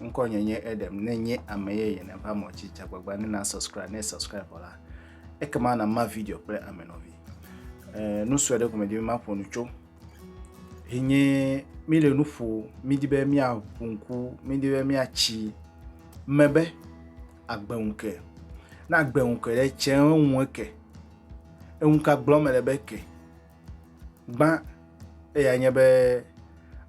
Ŋkɔnye nye Edem. Ne nye ame yeye ne va mɔ dzi dzagbagba ne na subscribe ne subscribe vɔ la, ekema na ma video kple ame nɔvi. Eh, nu sue ɖe gome di be maƒo nu tso. Hinye mi le nu ƒo, mi di be mia ƒo ŋku, mi di be mia tsi me be agbe ŋu ke. Na agbe ŋu ke ɖe tse ŋu ke. Eŋu ka gblɔm le be ke. Gbã, eyae nye be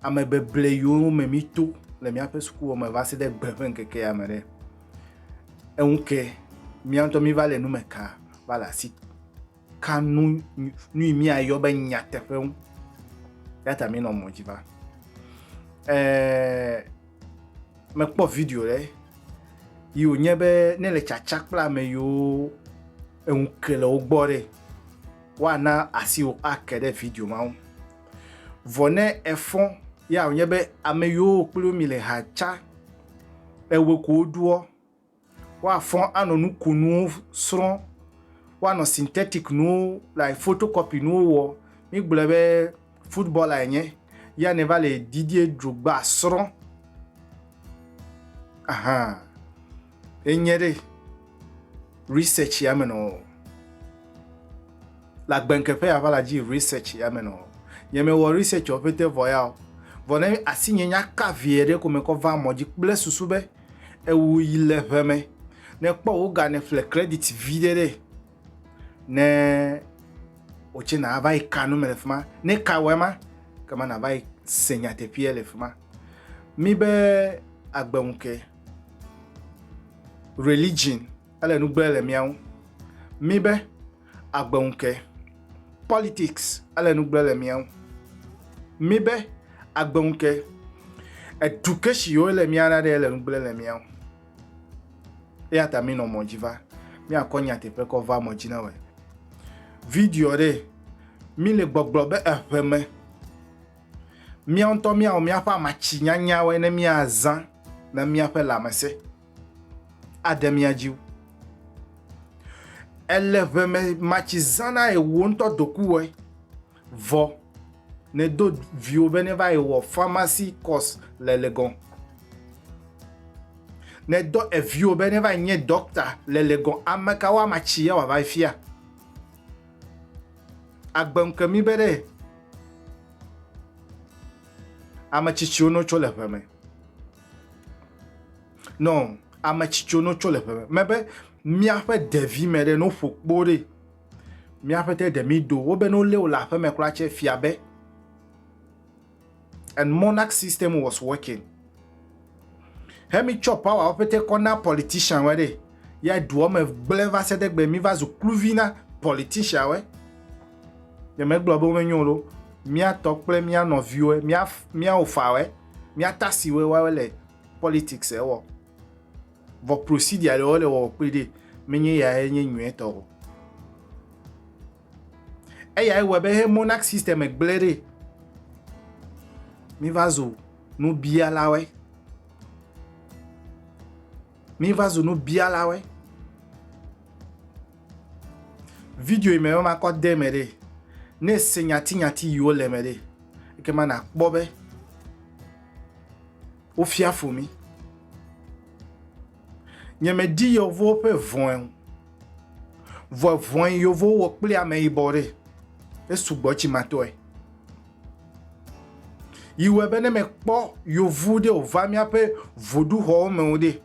ame beble yiwo me mito le míaƒe sukuxɔ me va se ɖe gbe ƒe ŋkeke ya me ɖe, eŋu ke mía ŋutɔ míva le nu me ka va le asi ka nu nu yi míayɔ be nyateƒe ŋu. Eya ta míenɔ mɔ dzi va. Ɛɛ mekpɔ video ɖe yi wònye be ne le tsatsa kple ame yiwo eŋu ke le wo gbɔ ɖe. woana asiwò ake ɖe video ma ŋu. Vɔ ne efɔ ya wònye be ame yiwo wò kpli wo mile ha tsa ewɔe ko woɖoɔ, woafɔ anɔ nukonuwo srɔ̃, woanɔ synthetic nuwo like photocopy nuwo wɔ, mígblɔe be footballer enye ya nèva le Didier Drogba srɔ̃ ahan. Enye ɖe research ya me nɔ le agbenkeƒe ya va la dzi research ya me nɔ nye me wɔ research wɔ pete vɔ ya o vɔ ne asi nye nya ka vie ɖe ko me kɔ va mɔ dzi kple susu be ewu yi le ʋe me ne kpɔ wo ga ne ƒle credit vi ɖe ɖe ne o tse na va yi ka nu me le fima ne ka wɔ ma kama na va yi se nyateƒea le fima mi be agbenke Religion ele nu gblẽ le mía ŋu. Mi be agbe ŋu ke. Politics ele nu gblẽ le mía ŋu. Mi be agbe ŋu ke. Education yi wo le mía na ɖe ele nu gblẽ le mía ŋu. Eya ta mi nɔ mɔ dzi va. Mi akɔ nya teƒe kɔ va mɔ dzi na wɔ. Video ɖe mi le gbɔgblɔ be eƒe me. Míawo ŋutɔ míawɔ míaƒe amatsi nyanyawoe ne míazã na míaƒe lãmesẽ ade mía dzi wu. Èle ʋe me matsi zã na wò ŋutɔ dokuwɔe. Vɔ nèdo viwò be neva yi wɔ pharmacy course le Legon. Nèdɔ eviwò be neva yi nye ɖɔkta le Legon. Ame kawo amatsi ye wòava yi fia? Agbe ŋke mí be ɖe ame tsitsiwo no tso le ʋe me. Nɔ ame tsitsiwo no tso le ʋe me. Me be míaƒe ɖevi me ɖe no ƒo kpo ɖe míaƒe te ɖe mí do wo be no lé wo le aƒeme kura tse fia be. and monarch system was working hemi tsɔ power wo pete kɔ na politician we ɖe ya duɔ me gblẽ va se ɖegbe mi va zu kluvi na politician we ne megblɔ be wome nyo lo miatɔ kple mia nɔviwo mia mia ofa we mia tasi we wa le politics ewɔ vɔ procedure le wo le wɔ kpe ɖe menye ya enye nyuetɔ o eyae wɔe be he monarch system gblẽ ɖi miva zu nubialawe miva zu nubialawe video yi me be makɔ de me ɖe ne se nyatinyati yiwo le me ɖe eke ma nakpɔ be wofia fo mi nyemedi yevuwo ƒe vɔ̃e o Vɔ vɔin yovowo wɔ kple ameyibɔ ɖe esugbɔ tsimatɔe. Yiwɔe be ne mekpɔ yovu ɖe wòva míaƒe voɖuxɔwo me o ɖe,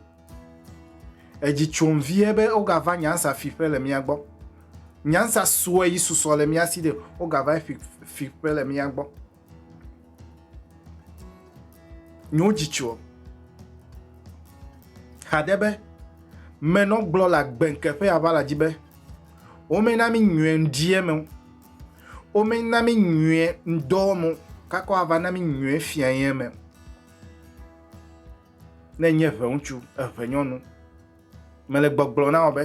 edzi tsom vie be wogava nyansa fiƒe le mía gbɔ. Nyansa sue yi susɔ le mía si ɖe wogava fiƒe le mía gbɔ. Nyo jitsuɔ. Xaɖe be, me nɔ gblɔ la gbenke ƒe ava la dzi be, wome na mi nyuie ŋdie me, wome na mi nyuie ŋdɔ me, kakɔ ava na mi nyuie fia ye me. Ne nye ʋe ŋutsu, ʋe nyɔnu, mele gbɔgblɔ na wɔ be,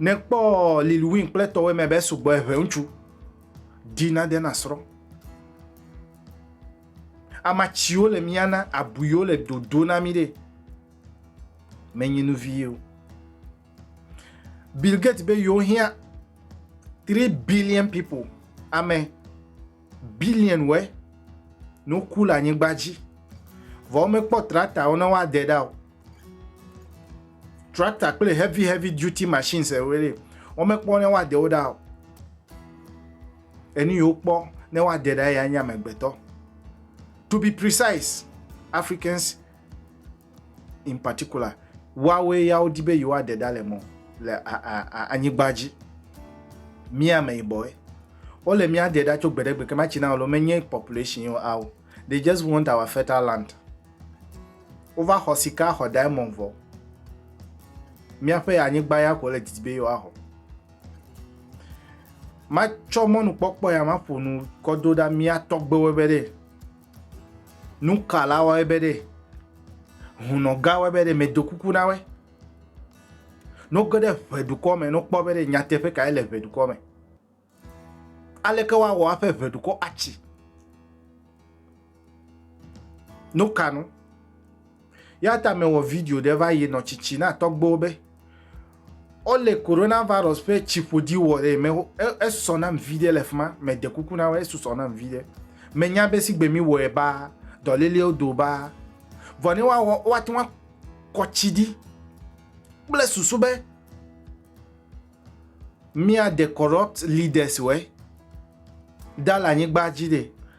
Ne kpɔ Lil Win kple tɔwɔe mɛ bɛ sugbɔ eʋɛ ŋutsu di na de na srɔ. Ama ciwo le mia na abuiwo le dodo na mi ɖe me nyi nu vi yo. Bill Gates be yo hia 3 billion people amɛ. Billion-woe ne woku le anyigba dzi, vɔ womekpɔ tractor-wo ne woade ɖa o. Tractor kple heavy heavy duty machines woe li, womekpɔ ne woade wo ɖa o. Enu yi wokpɔ ne woade ɖa ya nye amegbetɔ. To be precise, Africans in particular, woawoe ya wodi be yewoaɖe ɖa le mɔ le anyigba dzi. Mí ameyibɔe. Wole mía ɖe ɖa tso gbe ɖe gbe ke ma China alo menye population yo ao. They just want our fertile land. Wova xɔ sika, xɔ diamond vɔ. Míaƒe anyigba ya ko le didi be yewoaxɔ. Matsɔ mɔnukpɔkpɔ ya maƒo nu kɔ do ɖa mía tɔgbewo be ɖe Nuka la wɔe be ɖe hunɔ gã wɔe be ɖe medo kuku na wɔe? No ge ɖe ʋe dukɔ me no kpɔ be ɖe nyateƒe kae le ʋe dukɔ me. Aleke woawɔ aƒe ʋe dukɔ atsi? No ka nu? Eya ta mewɔ video ɖe va yi nɔ tsitsi na tɔgbewo be wole coronavirus ƒe tsiƒoɖi wɔ ɖe me. Esɔ nam viɖe le fima. Mede kuku na wo, esusɔ nam viɖe. Menya be sigbe mi wɔe ba, dɔlelewo do ba. Vɔ ne woawɔ, woate ŋu akɔ tsi ɖi kple susu be mía de corrupt leaders wɔe ɖa le anyigba dzi ɖe.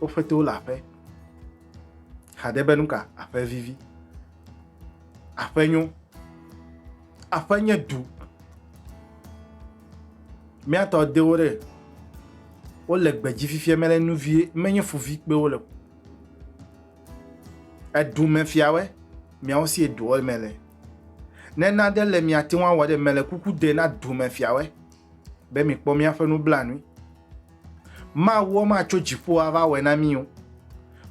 Woƒe towo le aƒe. Xade be nuka aƒe vivi. Aƒe nyo. Aƒe nye du. Míatɔ dewo ɖe. Wole gbedzi fifia mele nu vie menye fuvi kpe wole. Edu me fiawe miawo si eduɔ me le. Ne nane le miate ŋu awɔ ɖe mele kuku de na du me fiawe. be mikpɔ míaƒe nublanui. Mawua matso dziƒo ava wɔe na mí o.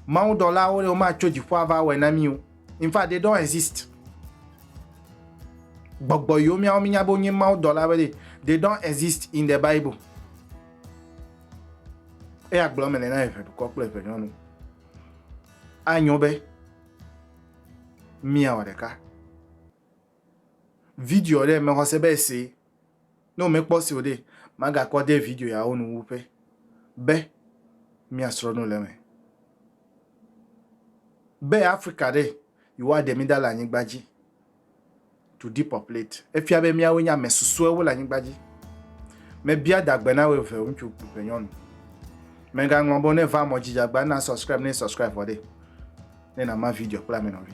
Mawudɔlawo ɖewo matso dziƒo ava wɔe na mí o. In fact, they don't exist. Gbɔgbɔ yiwo míawo mínya be wonye mawudɔla be they don't exist in the Bible. Eya gblɔ me nena eve dukɔ kple eve nyɔnu. Anyo be míawɔ ɖeka. Video ɖe mexɔ se be ese Ne womekpɔ esi o ɖe, magakpɔ ade video yawo nu wu pɛ be míasrɔ̃ nu le eme. Be Afrika ɖe, yewoaɖe mí ɖa le anyigba dzi, to depopulate. Efia be míawoe nye ame susɔewo le anyigba dzi. Mebia adagbe na wò eve ŋutsu kple nyɔnu. Mègaŋlɔ be ne va mɔ dzi dze agba na subscribe ne subscribe vɔ ɖe, ne nàma video kple ame nɔvi.